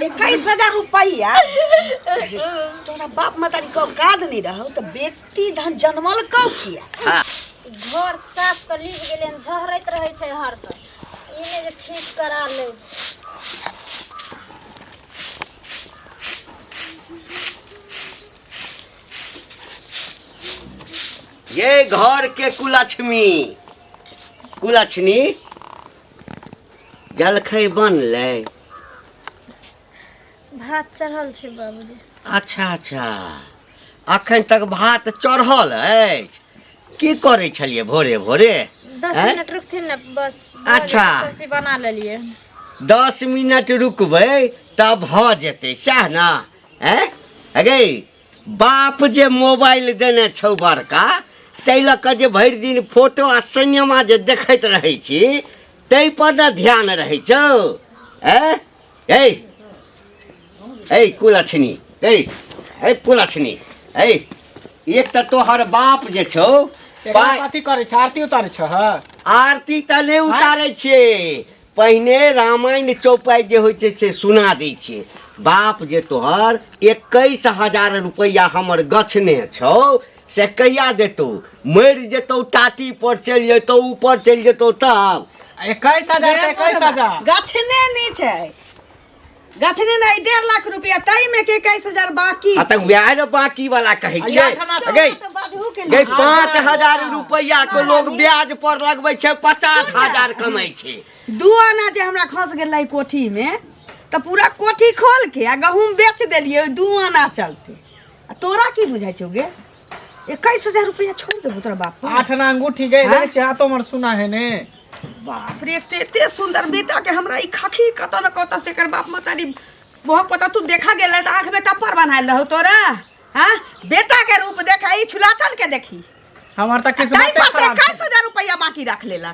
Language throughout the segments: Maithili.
इक्कीस हजार रुपया तोरा बाप मतारी के औकात नहीं रहो तो बेटी धन जनमल कौ किया हाँ। घर साफ कर लीप गेले झहरैत रहै छै हर पर ई ने जे ठीक करा लै छै ये घर के कुलक्ष्मी कुलक्ष्मी जलखै बनलै भात चढ़ल छै बाबूजी अच्छा अच्छा अखन तक भात चढ़ल अछि की करै छलियै भोरे भोरे दस हैं? मिनट रुकथिन ने बस भऽ अच्छा। जेतै, सब्जी बना लेलियै दस मिनट रुकबै तब भऽ जेतै सएह ने हैं अरे बाप जे मोबाइल देने छौ बड़का ताहि लऽ कऽ जे भरि दिन फोटो आ सिनेमा जे देखैत रहै छी ताहि पर ने ध्यान रहै छौ हैं ए ए कुलछनी ए ए कुलछनी ए एक तऽ तोहर बाप जे छौ एकरा पाइ कथी करै छ आरती उतारै छ आरती तऽ नहि उतारै छियै पहिने रामायण चौपाइ जे होइ छै से सुना दै छियै बाप जे तोहर एकैस हजार रुपैआ हमर गछने छौ से कहिया देतौ मरि जेतौ टाटी पर चलि जेतौ ऊपर चलि जेतौ तब एकैस हजार एकैस हजार गछने नहि छै गछने नहीं डेढ़ लाख रुपया तय में के इक्कीस हजार बाकी आ तक वएह ने बाकी वाला कहै छै आठ आना तो गई तो बाजहू के गई ना। पाँच हजार रुपैआ के लोग ब्याज पर लगबै छै पचास हजार कमाइ छै दू आना जे हमरा खस गेलै कोठी में तऽ पूरा कोठी खोल के आ गहूम बेच देलियै ओहि दू आना चलते आ तोरा की बुझाइ छौ गे इक्कीस हजार रुपया छोड़ देबू तोरा बाप आठ ना अंगूठी गए हाँ? चाह तो मर सुना है ने बाप रे एते एते सुंदर बेटा के हमरा ई खखी कत न कत से कर बाप मतारी बहुत पता तू देखा गेल त आंख में टप्पर बनायल रहो तोरा हां बेटा के रूप देखा ई छुलाचन के देखी हमार तक किस्मत खराब 21000 रुपया बाकी रख लेला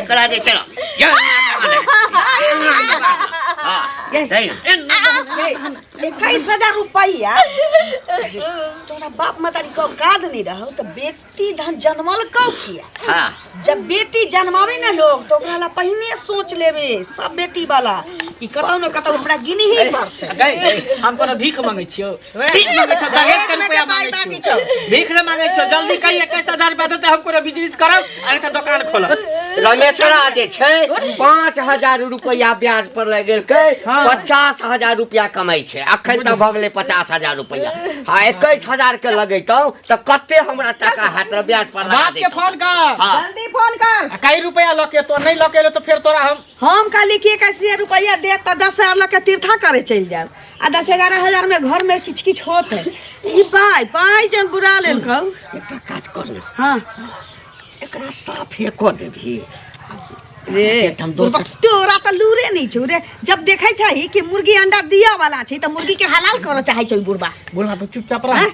ఎక్కడ అది ఎక్కడ इक्कीस हजार रुपया तोरा बाप मतारी के औकात नहीं रहो तो बेटी धन जनमल कौ किया हाँ जब बेटी जन्मावे ना लोग तो ओकरा ला पहिने सोच लेबे सब बेटी वाला कि कतौ न कतौ हमरा गिनी ही पड़तै हम कोनो भीख मंगै छियो भीख मांगे छो दहेज के रुपया मांगे छो भीख ना मांगे छो जल्दी कहिए कैसे हजार रुपया देते हम कोनो बिजनेस करब अरे तो दुकान खोलब रमेशरा जे छै पाँच हजार रुपया ब्याज पर लग गेल के हाँ। पचास हजार रुपया कमाई छै अखन तक भऽ गेलै पचास हजार रुपया हाँ एकैस हजार के लगैतौ तऽ कते हमरा टाका हाथ रे ब्याज पर लगा बाप के देतौ फोन कर हाँ। जल्दी फोन कर आ कई रुपया लके तो नहीं लके तो फिर तोरा हम हम कहली कि एक अस्सी रुपया दे तो दस हजार लग के तीर्था करे चल जाए आ दस ग्यारह हजार में घर में किच किच होत है ई पाई पाई जन बुरा लेल कहू एकटा काज कर ने हाँ एकरा साफे कऽ देबही रे एकठाम दोसर बुड़बक, तोरा तो लूरे नहीं छौ रे जब देखे छै कि मुर्गी अंडा दिया वाला छै तो मुर्गी के हलाल करऽ चाहे छै बुढ़बा बुढ़वा तो चुपचाप रह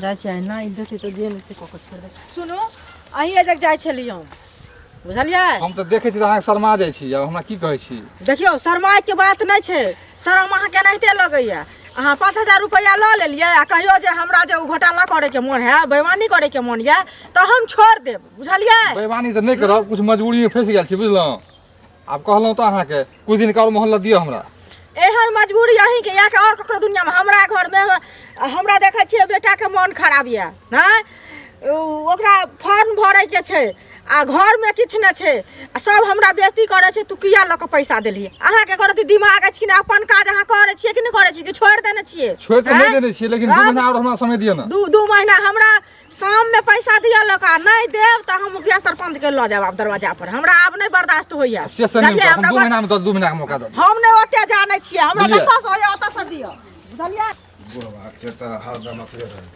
जाइ छै अहिना इज्जत हेतौ जे नहि छै कऽ कऽ छोड़ि दे सुनू अहीं एजक जाइ छलियै हम बुझलियै हम तऽ देखै छी तऽ अहाँके शर्मा जाइ छी आब हमरा की कहै छी देखियौ शर्माइके बात नहि छै शर्म अहाँके एनाहिते लगैया अहाँ पाँच हजार रुपैआ लऽ लेलियै आ कहियो जे हमरा जे ओ घोटाला करैके मोन है बेमानी करैके मोन यऽ तऽ हम छोड़ देब बुझलियै बेमानी तऽ नहि करब किछु मजबूरीमे फँसि गेल छी बुझलहुँ आब कहलहुँ तऽ अहाँके कुछ दिन और मोहल्ला दिअ हमरा एहन मजबूरी अहीं के या के और ककरो दुनिया में हमरा घर में हमरा देखे छियै बेटा के मन खराब ये हैं ओकरा फॉर्म भरे के छै आ घर में किछ न छै आ सब हमरा बेइज्जती करे छै तू किया लक पैसा देली अहाँ के करत दिमाग अछि ना अपन काज अहाँ करे छियै कि नै करे छियै कि छोड़ देने छियै छोड़ त नै देने छियै लेकिन दू महीना और हमरा समय दियौ ना दू दू महीना हमरा शाम में पैसा दिया लोग आ नहीं देव तो हम मुखिया सरपंच के लो जाब दरवाजा पर हमरा आब नहीं बर्दाश्त होइया से से नहीं हम दू महीना में दस दू महीना के मौका दो हम नहीं ओते जाने छिए हमरा कतऽ से होइया ओतऽ से दियो बुझलियै बुढ़वा के तो हरदम अथरे रहे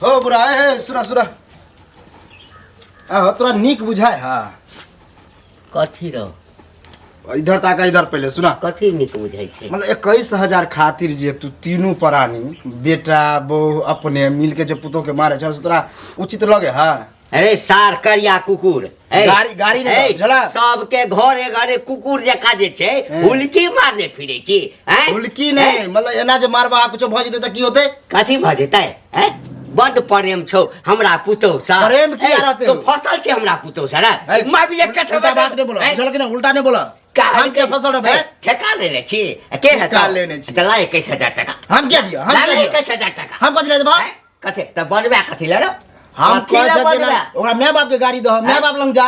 हो बुढ़ा हे सुना सुना आ तोरा नीक बुझाय हा कथी रहो इधर तक इधर पहले सुना कथी निक बुझाई छे मतलब इक्कीस हजार खातिर जे तू तीनों प्राणी बेटा बहू अपने मिल के जो पुतोह के मारे छे से तोरा उचित लगे है अरे सार करिया कुकुर ए, गाड़ी- गाड़ी ने ए, झला। सबके घरे घरे कुकुर जका जे छे ए। हुलकी मारने फिरे छी हैं? हुलकी ए, नहीं मतलब एना जे मारबा कुछ भऽ जेतै तऽ की होतै कथी भऽ जेतै हैं बड प्रेम छौ हमरा पुतौ सा प्रेम किया रहते तो फसल छै हमरा पुतौ सा रे माय भी एक कथा उल्टा बात नै बोला चल के ना उल्टा नै बोला हम के फसल रे ठेका लेने छी के है ठेका लेने छी चला 21000 टाका हम क्या दिया हम क्या दिया 21000 टाका हम कथि ले देबा कथे त बनबा कथि ले रे हम कथि ले बनबा ओकरा माय बाप के गाड़ी दो माय बाप लंग जा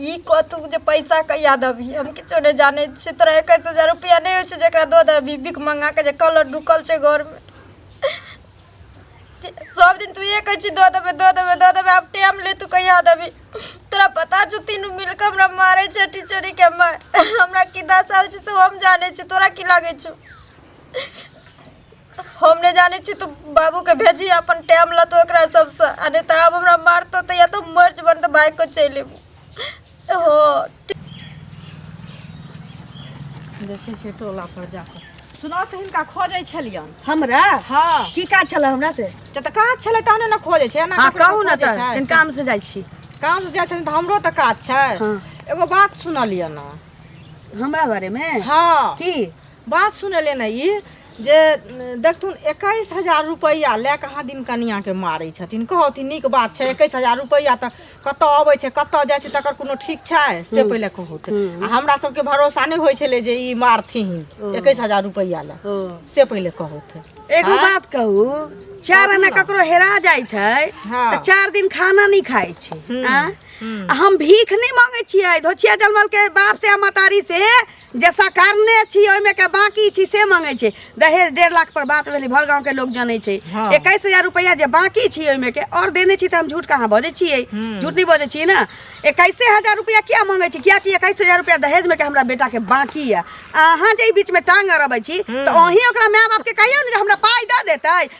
ई कथु जे पैसा कहिया देबही हम किछो नहि जानै छियै तोरा एकैस हजार रुपैआ नहि होइ छै जकरा दऽ देबही भीख मङ्गाके जे कलर ढुकल छै घरमे सब दिन तू इहे कहै छी दऽ देबै दऽ देबै दऽ देबै आब टाइम ले तू कहिया देबही तोरा पता छौ तीनू मिलके हमरा मारै छै टीचरी के मार हमरा की दशा होइ छै से हम जानै छी तोरा की लागै छौ हम नहि जानै छी तू बाबूके भेजी अपन टाइम लतो एकरा सबसँ आ नहि तऽ आब हमरा मारतो तऽ या तऽ मर जेबन तऽ भागि कऽ चलि एबू हँ देखै छियै टोला पर जाकऽ सुनाउ तऽ हिनका खोजै छलियन हमरा हँ की काज छलै हमरा से जे तऽ काज छलै तहने ने खोजै छै एना हँ ककरो कहू ने खोजै तऽ छै? कनि काम से जाइ छी काम से जाइ छलिन तऽ हमरो तऽ काज छै हँ। एगो बात सुनलियन हँ हमरा बारेमे हँ की बात सुन एलै ने ई जे देखथुन एकैस हजार रुपैआ लए कऽ अहाँ दिन कनियाँके मारै छथिन कहथिन नीक बात छै एकैस हजार रुपैआ तऽ कतऽ अबै छै कतऽ जाइ छै तकर कोनो ठीक छै से पहिले कहू तऽ आ हमरा सबके भरोसा नहि होइ छलै जे ई मारथिन एकैस हजार रुपैआ लए से पहिले कहू तऽ एगो हाँ? बात कहू चार आना ककरो हेरा जाइ छै हाँ। तऽ चार दिन खाना नहि खाइ छै हम्म, हाँ? हम्म। आ हम भीख नहीं मांगे छियै धोचिया जलमल के बाप से आ मतारी से जे सकारने छी ओहिमे के बाकी छी से मंगे छै दहेज डेढ़ लाख पर बात भेली भर गांव के लोग जाने छै हाँ। इक्कीस हजार रुपया जे बाकी छी ओहिमे के और देने छी तो हम झूठ कहाँ बजे छियै हम्म। झूठ नहीं बजे छियै ना इक्कीसे हजार रुपया क्या मंगे छी क्या कि इक्कीस हजार रुपया दहेज में के हमरा बेटा के बाकी है अहाँ जे ई बीच में टांग अरबे छी तो अहीं ओकरा माय बाप के कहियो ने जे हमरा पाई दे देते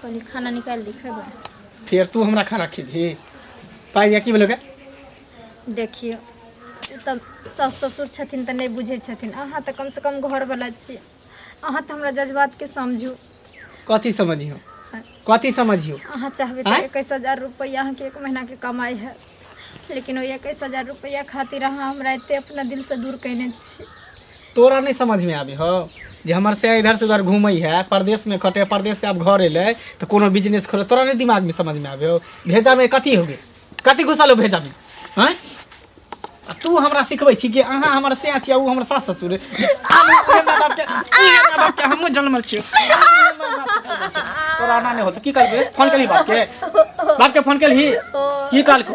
कहली खाना निकाल ली खेबै फिर तू हमरा खाना खिबही पाइ की भेलौ गे देखियौ ओ तऽ सास ससुर छथिन तऽ नहि बुझै छथिन अहाँ तऽ कमसँ कम घरवला छी अहाँ तऽ हमरा जज्बातके समझू कथी समझियो कथी समझियो अहाँ चाहबै आँय? तऽ एकैस हजार रुपैआ अहाँके एक महीनाके कमाइ है लेकिन ओहि एकैस हजार रुपैआ खातिर अहाँ हमरा एते अपना दिलसँ दूर कयने छी तोरा नहीं समझ में आवे हो जे हमर से इधर से उधर घूमे है प्रदेश में खटे प्रदेश से अब घर एले तो कोनो बिजनेस खोले तोरा नहीं दिमाग में समझ में आवे हो भेजा में कथी हो गए कथी घुसल हो भेजा में हैं आ तू हमरा सिखबै छी कि अहाँ हमर से छी आ ऊ हमर सास ससुर हम उहे माय बाप के उहे माय बाप के हमहूँ जनमल छियै उहे माय बाप के जनमल छियै। तोरा एना नहि होतौ की कहलकै फोन केलही बाप के बाप के फोन केलही की कहलको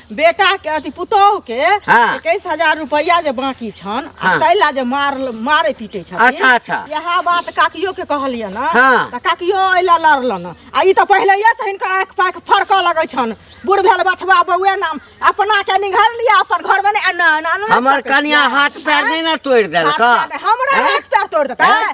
बेटा के अथी पुतोह के हाँ। इक्कीस हजार रुपया जे बाकी छन आ हाँ। तैला जे मार मारे पीटे छथिन अच्छा, अच्छा। यह बात काकियो के कहलिए ना हाँ। त काकियो अइला लड़लन आ ई त पहिलैया से हिनकर आँख पाँख फड़कऽ लगै छन बूढ़ भेल बछवा बौए नाम अपना के निघर लिया अपन घर में नहीं ना ना ना हमर सकैत कनिया छियै। हाथ पैर नहीं ना तोड़ देलक हाथ पैर- हमरा हैं? हाथ पैर तोड़ देता हैं?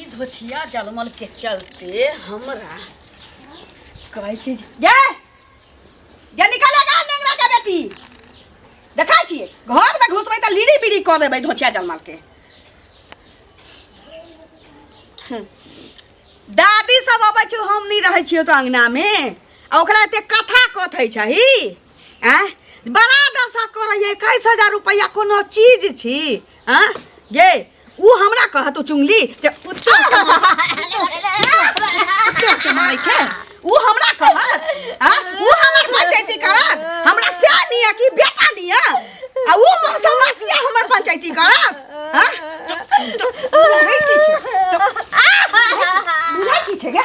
ई धोछिया जलमल के चलते हमरा कहै छी जे- गे गे निकल गा नेंगरा के बेटी देखा छिए घर में घुसबै त लीड़ी बीड़ी क देबै धोछिया जलमल के हम्म। दादी सब अबै छु हम नहीं रहै छियो तो अंगना में आ ओकरा एते कथा कथै छही आ बड़ा दशा करैए इक्कीस हजार रुपैआ कोनो चीज छी आ गे ओ हमरा कहत ओ चुंगली जे उत्तर के के मारै छै ओ हमरा कहत आ ओ हमर पंचायती करत हमरा क्या निया कि बेटा निया आ ओ मौसा मातिया हमर पंचायती करत हां बुझै की छै बुझै की छै गे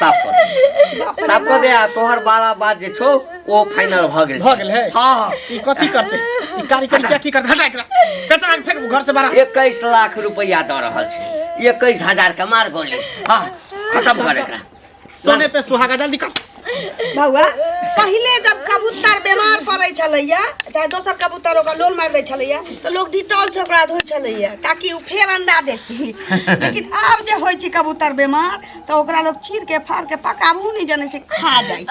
साफ कर दे। साफ कर दे आ तोहर बाला बात जे छौ ओ फाइनल भ गेल भऽ गेल है हां हां ई कथी करते ई कारी करी के की करते हटा एकरा कचरा के फेंक घर से बाहर इक्कीस लाख रुपया दऽ रहल छै इक्कीस हजार के मार गोली हाँ खत्म कर एकरा सोने पे सुहागा जल्दी कर बौआ पहिले जब कबूतर बीमार पड़ै छलैया चाहे दोसर कबूतर ओकरा लोल मारि दै छलैया तऽ लोग डिटॉल से ओकरा धोइ छलैया ताकि ओ फेर अंडा देती लेकिन आब जे होइ छै कबूतर बेमार तऽ ओकरा लोग चीर के फाड़ के पकाबू नहि जने से खा जाइ छै